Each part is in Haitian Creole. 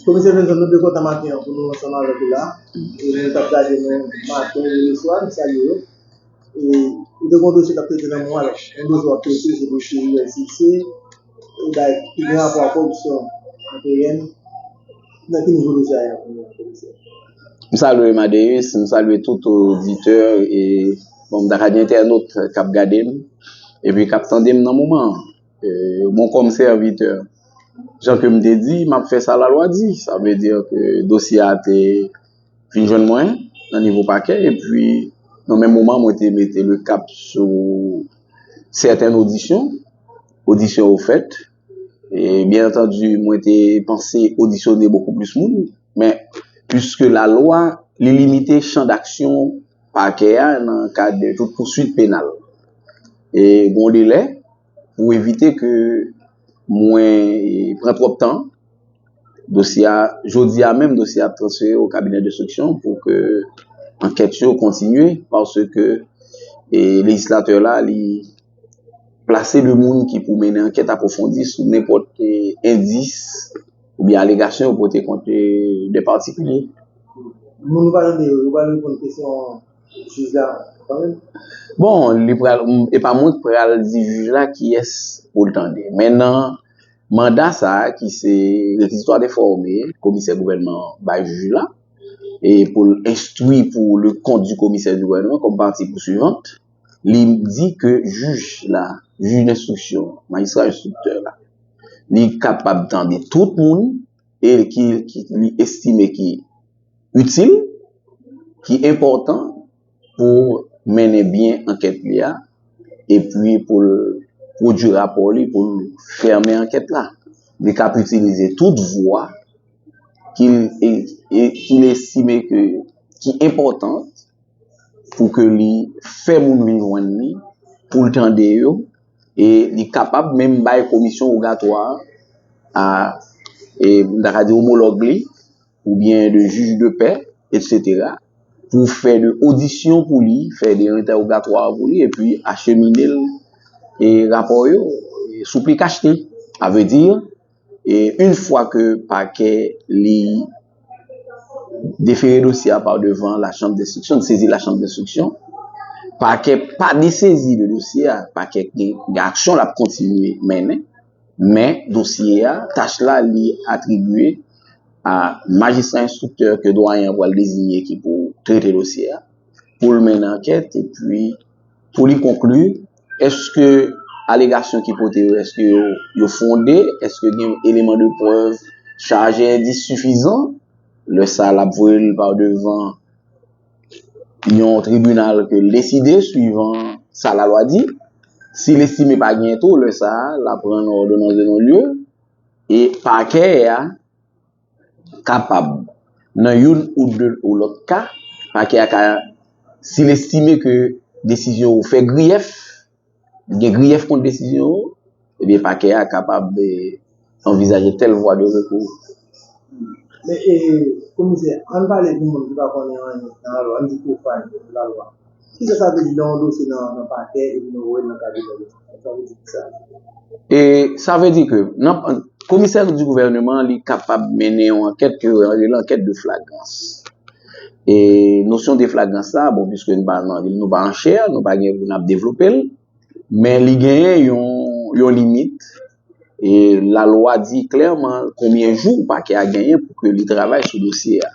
Komisè Benson nou te kontan maten an pou nou ansanm avèk ou la e moun kap gade nou maten e leswa nou salye yo e ou te gon dosye kap trete nan moman lan yon dosye wap trete se dosye uscis e bagay ki gen rapò ak koripsyon anpn nan ki nivo dosye a ye la kounyè a komisè. M salwe Madeus, m salwe tout oditè e bon m ta ka di entènot kap gade m epi kap tande m nan moman an. Bon kòm sèvitè, jan ke m te di, m ap fè sa lalwa di. Sa vle di ke dosye a te vin jwenn mwen nan nivo pakè epi nan menm moman mwen te mete le kap sou sèten odisyon. Odisyon yo fèt e byen antandi mwen te panse odisyone bokou plis moun. Men, puiske lalwa, li limite chan daksyon Pakè a nan kad tout pousuit penal. E gen yon delè pou evite ke mwen pran twòp tan, dosye a, jodi a menm dosye a ap transfere o kabinè denstriksyon pou ke ankèt yo kontinye paske lejislatè la li plase de moun ki pou mennen ankèt apwofondi sou nenpòt endis. Oubyen alegasyon yo pote kont 2 patikilye. Moun nou pa tande yo, yo pral reponn kesyon jij la kanmenm? Bon, li pral, e pa mwen ki pral di jij la kiyès pou l tande. Men nan manda sa a ki se rekizitwa de fòme komisè gouvènman an bay jij la e pou l enstwi pou le kont di komisè di gouvènman kòm pati pousuivant, li di ke jij la, jij denstriksyon, majistra enstriktè la, li kapab tande tout moun e ki li estime ki itil, ki enpòtan pou mennen byen ankèt li a epi pou l pwodui rapò li pou l fèmen ankèt la. Li kab itilize tout vwa ki l estime ki enpòtan. pou ke li fè moun vin jwenn li, pou l tande yo, e li kapab menm bay komisyon wogatwa a, e m ta ka di omològ li, ou byen de jij de pè, etsetera, pou fè de odisyon pou li, fè de entèwogatwa pou li, e pi achemine l, e rapò yo, sou pli kachte, a vle di. E yn fwa ke pakè li defere dosye a pa devan la chanm denstriksyon, li sezi la chanm denstriksyon, pakè pa desezi de dosye a, pakè gen aksyon lap kontinye mennen, men dosye a, tach la li atribye a majistra enstriktè ke dwayen an pwal dezinye ki pou trete dosye a, poul mennen ankèt epi Pou li konkli, èske alegasyon ki pote yo, èske yo fonde, èske gen eleman de prèv chaje e di sifizan, lè sa l ap voye l pa devan yon tribinal ke l deside swivan sa lalwa di. Si l estime pa genyen tou, lè sa l ap rann òdonans de non lye e pakè a. kapab nan youn ou de ou lòt ka, Pakè a ka, si l estime ke desizyon ou fè griyèf, li gen griyèf kont desizyon ou, ebyen Pakè a kapab anvizaje tèl vwa de rekou. Men, Komisè, an n pale pou moun ki pa konnen anyen nan lalwa, an n di pwofàn nan lalwa. Kisa sa vle di nan yon dosye nan pakè epi nou voye l nan kabinè lejislatif? Sa vle di ki sa? E sa vle di ke nan komisè di gouvèneman li kapab mennen yon ankèt ke yo rele ankèt de flagrans. E nosyon de flagrans sa, bon piske nou pa nan nou pa an chè, nou pa gen pou nap devlope l, men li genyen yon yon limit e lalwa di klèman konbyen jou pakè a genyen pou ke li travay sou dosye a.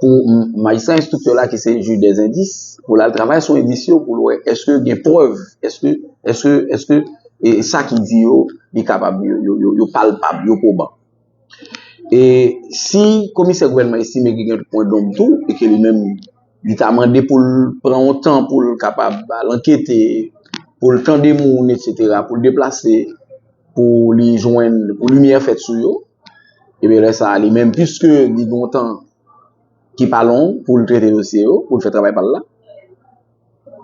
pou majistra enstriktè la ki se jij dè endis pou l al travay sou endis yo pou l wè èske gen prèv, èske, èske, èske e sa ki di yo li kapab yo palpab, yo pwoban. E si komisè gouvènman estime ki gen pwen donm tou e ke li menm li ta mande pou l pran yon tan pou l kapab al ankete, pou l tande moun etsetera, pou l deplase pou li jwenn, pou limyè fèt sou yo. Ebyen lè sa a li menm piske li gon tan ki pa long pou l trete dosye yo, pou l fè travay pa l la,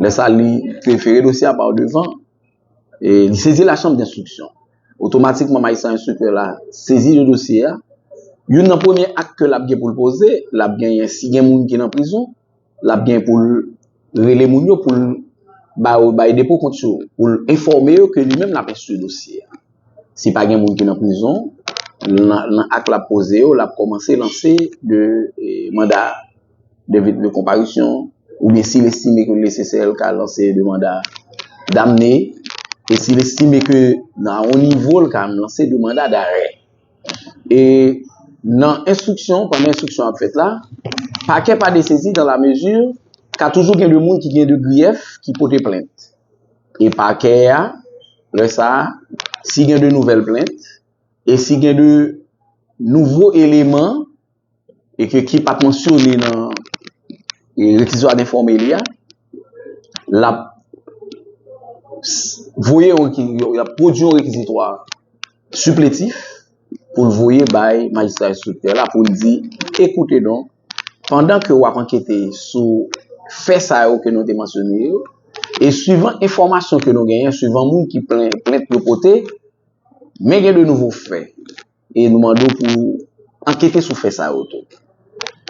lè sa a li prefere dosye a pa w devan e li sezi la chanm denstriksyon. Otomatikman majistra enstriktè la sezi de dosye a, youn nan premye ak ke l ap gen pou l poze, l ap genyen si gen moun ki nan prizon, l ap gen pou l rele moun yo, pou l ba yo bay depo kont yo, pou l enfòme yo ke li menm l ap enstwi dosye a. Si pa gen moun ki nan prizon, nan ak l ap poze yo, l ap kòmanse lanse de manda de konparisyon oubyen si l estime ke li nesesè l ka lanse de manda damne e si l estime ke nan yon nivo l ka lanse de manda darè. E nan enstriksyon, pandan enstriksyon ap fèt la, pakè pa desezi dan la mezi ka toujou gen de moun ki gen de griyèf ki pote plent. E pakè a, lè sa a, si gen de nouvèl plent, e si gen de nouvo eleman, e ke ki pat mansyone nan rekizwa denfòme li a, l ap voye yon rekizitwa, l ap pwodui yon rekizitwa sipletif pou l voye bay majistra enstriktè la pou l di, ekoute donk, pandan ke w ap ankete sou fè sa yo ke nou te mansyone yo, e suivan enfòmasyon ke nou genyen, suivan moun ki plent yo pote, men gen de nouvo fè. E nou mande w pou w ankete sou fè sa yo tou.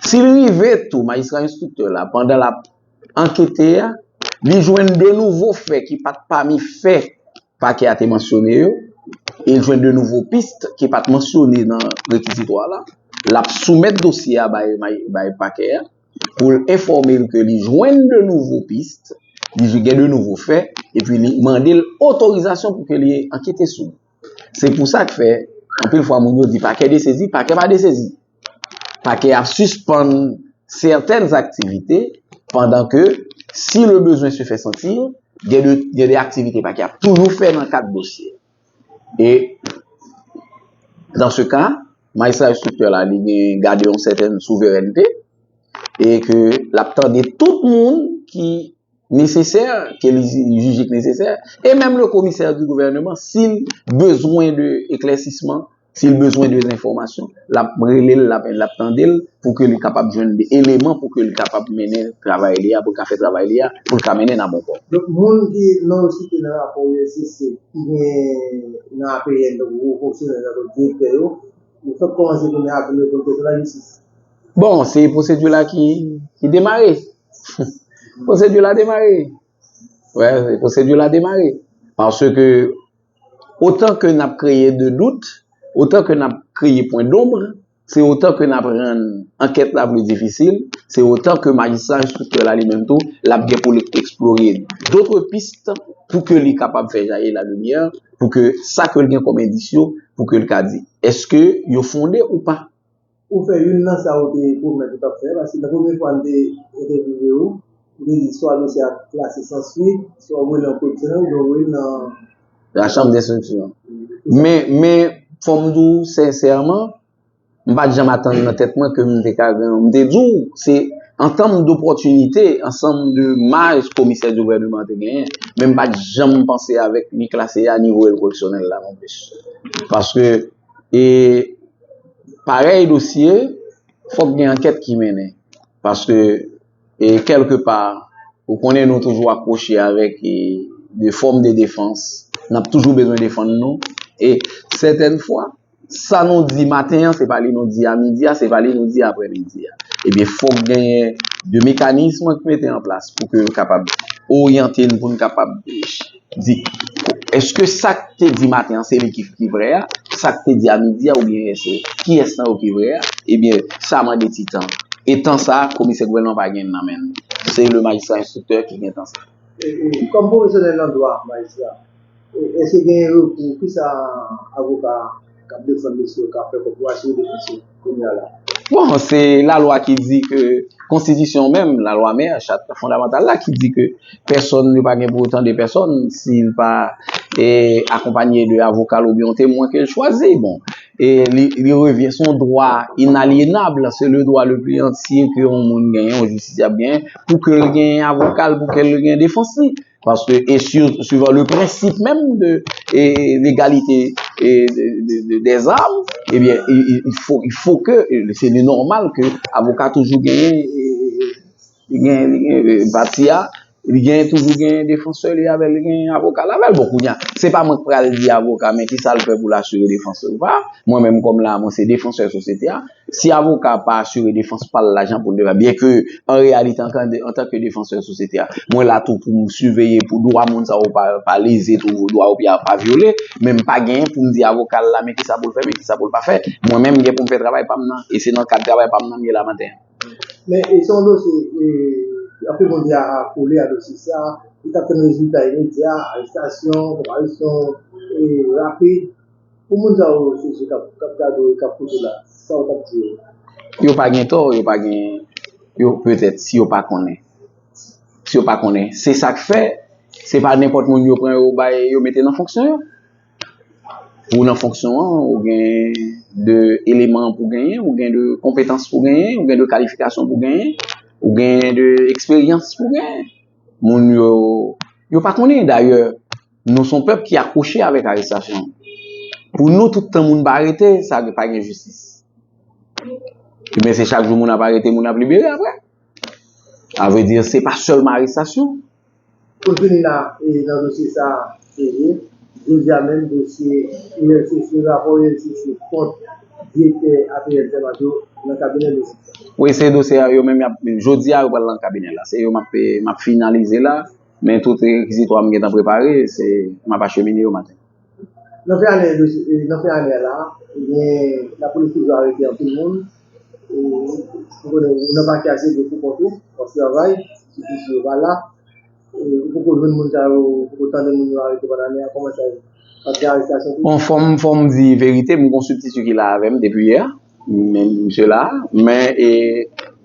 Si l rive tou, majistra enstriktè la, pandan l ap ankete a, li jwenn de nouvo fè ki pa t pami fè pakè a te mansyone yo, e l jwenn de nouvo pis ki pa t mansyone nan rekizitwa la, l ap soumèt dosye a bay pakè a pou l enfòme l ke li jwenn de nouvo pis, li gen de nouvo fè, epi li mande l otorizasyon pou ke li ankete sou li. Se pou sa k fè, anpil fwa moun yo di pakè desezi, pakè pa desezi. Pakè a sispann sètèn aktivite pandan ke si le bezwen se fè santi, gen de aktivite pakè a toujou fè nan kad dosye. E, dan se ka, majistra enstriktè la li gen gade yon sètèn souverènte e ke l ap tande tout moun ki nesesè ke li jije k nesesè e menm le komisè di gouvèneman si l bezwen de eklèsisman, si l bezwen de enfòmasyon l ap rele l, l ap tande l pou ke li kapab jwenn de eleman pou ke li kapab mennen travay li a, pou l ka fè travay li a, pou l ka mennen l a bon pò. Donk moun ki non yo site nan rapò uscc ki gen nan apn tankou wo fonksyonè yo tankou direktè yo, yo fèk kòmanse kounye a ap rekonte pou lajistis. Bon, se pwosedi la ki demare. Pwosedi la demare. Wè, pwosedi la demare. Pansè ke, otan ke nap kreye de dout, otan ke nap kreye pwen donbre, se otan ke nap rann ankèt la vle difisil, se otan ke majistra enstriktè la li menm tou, lap gen pou li eksplore dotre pist pou ke li kapab fè jayi la limyè, pou ke sa ke li gen kòm endisyon, pou ke li ka di, eske yo fonde ou pa? Ou fè youn nan sa ou te pwomèt ou t ap fè paske nan premye fwa n te entèvyouve ou, ou te di swa dosye a klase san swit, swa ou voye l nan Kou Etdiksyoner oubyen ou voye l nan. Lachanm denstriksyon. Men, men, fò m di w sensèman, m pa t janm atann nan tèt mwen ke m te ka gen yon, m te di w, se ansanm dopòtinite, ansanm de maj komisè di gouvèneman an te genyen, men m pa t janm panse avèk ni klase a ni voye l Kou Etdiksyonèl la nonplis. Paske, e. Parèy dosye, fòk gen ankèt ki mennen. Paske, e kèlke pa, ou konnen nou toujou akwoche avèk e de fòm de defans. N ap toujou bezwen defann nou. E sètèn fwa, sa nou di maten an, se pa li nou di a midi a, se pa li nou di apre midi a. Ebyen, fòk genyen de mekanism ki mete an plas pou ke yo kapab oryante n pou n kapab. Di, Eske sa k te di maten an se li ki vrè a? Sa k te di a midi a oubyen yè se kiyès nan yo ki vrè a? Ebyen, sa mande ti tan. E tan sa a, komisè gouvènman pa gen l nan men l. Se le majistra enstriktè ki gen tan sa. E kòm pwofesyonèl nan dwa, majistra, eske gen rekou? Kisa avoka. Kap defann mesye yo ka fè kòb wa jwe defansè kounya la. Bon se la lwa ki di ke konstitisyon menm la lwa mè chat fondamantal la ki di ke pèsòn yo pa gen pou yo tande pèsòn si l pa e akonpanye de avoka l oubyen yon temwen ke l chwazi bon e li revyen son dwa inalyenab se le dwa le pli antye ke yon moun genyen yon jistisyab genyen pou ke l genyen avoka l pou ke l genyen defans li. Paske e suivan le prensip menm de legalite de zam, ebyen, il fo ke, se li normal ke avoka toujou genyen, genyen, genyen, pati a, li genyen toujou genyen defansè li avèl, li genyen avoka avèl. Bon, kounya, se pa mwen k pral di avoka men ki sa l fè pou l asire defansè ou pa. Mwen menm kòm la, mwen se defansè sosyete a. Si avoka a pa asire defans pa l la jan pou l dwe fè, byenke an reyalite antanke defansè sosyete a, mwen la tou pou m siveye pou dwa moun sa yo pa leze tou, pou dwa yo pa vyole, men m pa genyen pou m di avoka l la men kisa pou l fè, men kisa pou l pa fè. Mwen menm m gen pou m fè travay pa m nan e se nan kad travay pa m nan m ye la maten an. Men e se yon dosye e anpil moun di a kole a dosye sa, li t ap tann rezilta imedya, arestasyon, konparison e rapid. Pou moun sa yo sezi kap kap gade w e kap koute w la, sa w t ap di yo? Yo pa gen tò, yo pa gen yo petèt si yo pa konnen. Si yo pa konnen. Se sa k fè, se pa nenpòt moun yo pran yo bay yo mete nan fonksyon yo. Pou w nan fonksyon an, ou gen de eleman pou w genyen, ou gen de konpetans pou w genyen, ou gen de kalifikasyon pou w genyen, ou gen de eksperyans pou w genyen. Moun yo, yo pa konnen dayè. Nou son pèp ki akouche avèk arestasyon. Pou nou tout tan moun pa arete, sa vle pa gen jistis. Ebyen se chak jou moun ap arete, moun ap libere aprè. A vre di, se pa sèlman arestasyon. Pou n fini la nan dosye sa a, Elie, jodi a menm dosye ULCC, rapò ULCC kont direktè APL Zermatt yo nan kabinè jistis la. Wi, se dosye a yo menm, jodi a yo pral nan kabinè la. Se yo m ap finalize la. Men tout rekizitwa m gentan prepare, se m ap achemine yo maten. Nan fen ane nan fen ane a la, gen lapolis toujou arete anpil moun. Ou konnen ou nan pati a se gwo kou kont ou, w ap travay, ti plis yo pa la. Ou poko jwenn moun sa yo, ou poko tande moun yo arete pandan ane a, kòman sa ye? Ap gen arestasyon toujou? Bon, fò m fò m di verite, m gen yon sibtiti ki la avè m depi yè. Men misye la, men e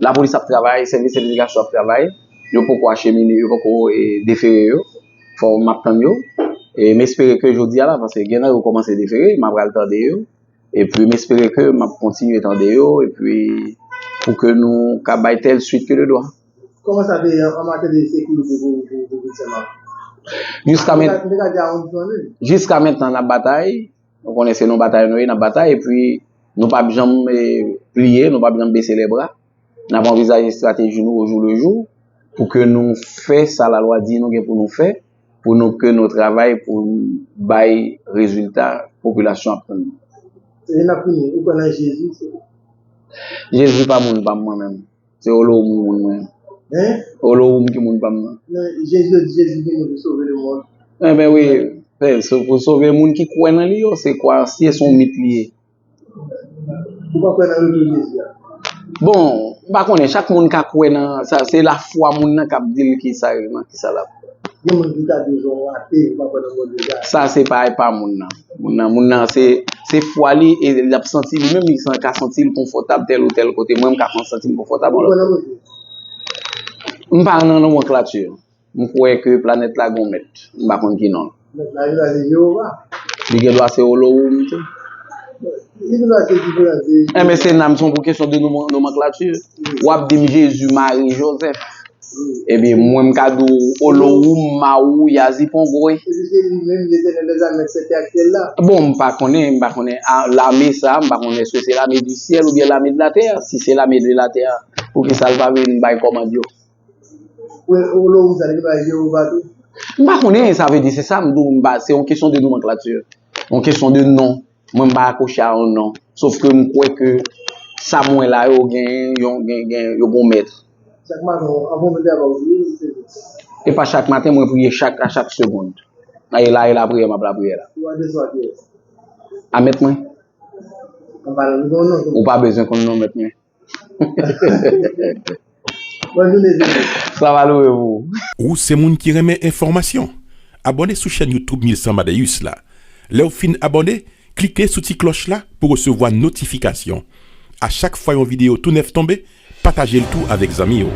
lapolis ap travay, sèvis edikasyon ap travay, yo poko achemine, yo poko e defere yo, fò map tann yo, e m espere ke jodi a la, paske gen nan yo kòmanse defere, ma pral tande yo, epi m espere ke map kontinye tande yo, epi pou ke nou ka bay tèl swit ke de dwa. Kòman sa te ye an matyè de sekirite pou Pouvèt Senmak? Jiska mèt, Mwen ta di a on di san lin. Jiska mentnan nap batay. Nou konnen se nou batay nou ye, nap batay epi nou pap janm pliye, nou pap janm bese lè bra. Nap anvizaje estrateji nou o jou le jou pou ke nou fè sa la lwa di nou gen pou nou fè, pou nou ke nou travay pou bay rezilta popilasyon ap tann nou. Lè nap fini, ou kwè nan Jezi, se. Jezi pa moun pam mwen menm. Se olohoum ki moun mwen. Hein? Olohoum ki moun pam nan. Nan Jezi di Jezi vini pou sove le mond. Eh ben oui, se pou sove moun ki kwè nan li yo, se kwa si e son mit li ye. Ou pa kwè nan retou Jezi a? Bon, m pa konnen, chak moun ka kwè nan sa, se lafwa moun nan kap dil ki sa yo, nan ki sa lap. Sa se pa epa moun nan. Moun nan, moun nan se, se fwa li e li ap santi li menm li san ka santi li konfòtab tèl ou tèl kote. Mwen m ka kon santi m konfòtab. M pa nan non mwen klati. M kwè ke planèt la gon mèt. M pa konn ki non. Li gen dwa se Olowoum tou. Eh men se nanm, se yon kesyon de nomanklati. Ou ap di m Jezi, Mari, Jozèf. Eh men mwen m ka di w Olowoum, Mawou, Yazi, Pongoy. Bon, m pa konnen, m pa konnen. Lame sa, m pa konnen èske se lame di syèl oubyen lame de latè. Si se lame de latè, poukisa l pa vin bay kòmand yo? M pa konnen sa vle di se sa m di w m pa se yon kesyon de nomanklati yon kesyon de non mwen m pa akwoche a yon non sof ke m kwè ke sa m wè la yo gen yon gen gen yo gen yon mèt e pa chak maten mwen priye chak a chak segond a e la e lapriyè m ap lapriyè la a mèt mwen ou pa bezwen konn non mèt mwen Ou se moun ki renmen enfòmasyon? Abòne sou chèn YouTube 1100 Madeus la. Lè w fin abòne, klike sou ti klòch la pou w resevwa notifikasyon. A chak fwa yon videyo tou nèf tonbe, pataje l tou avèk zanmi w.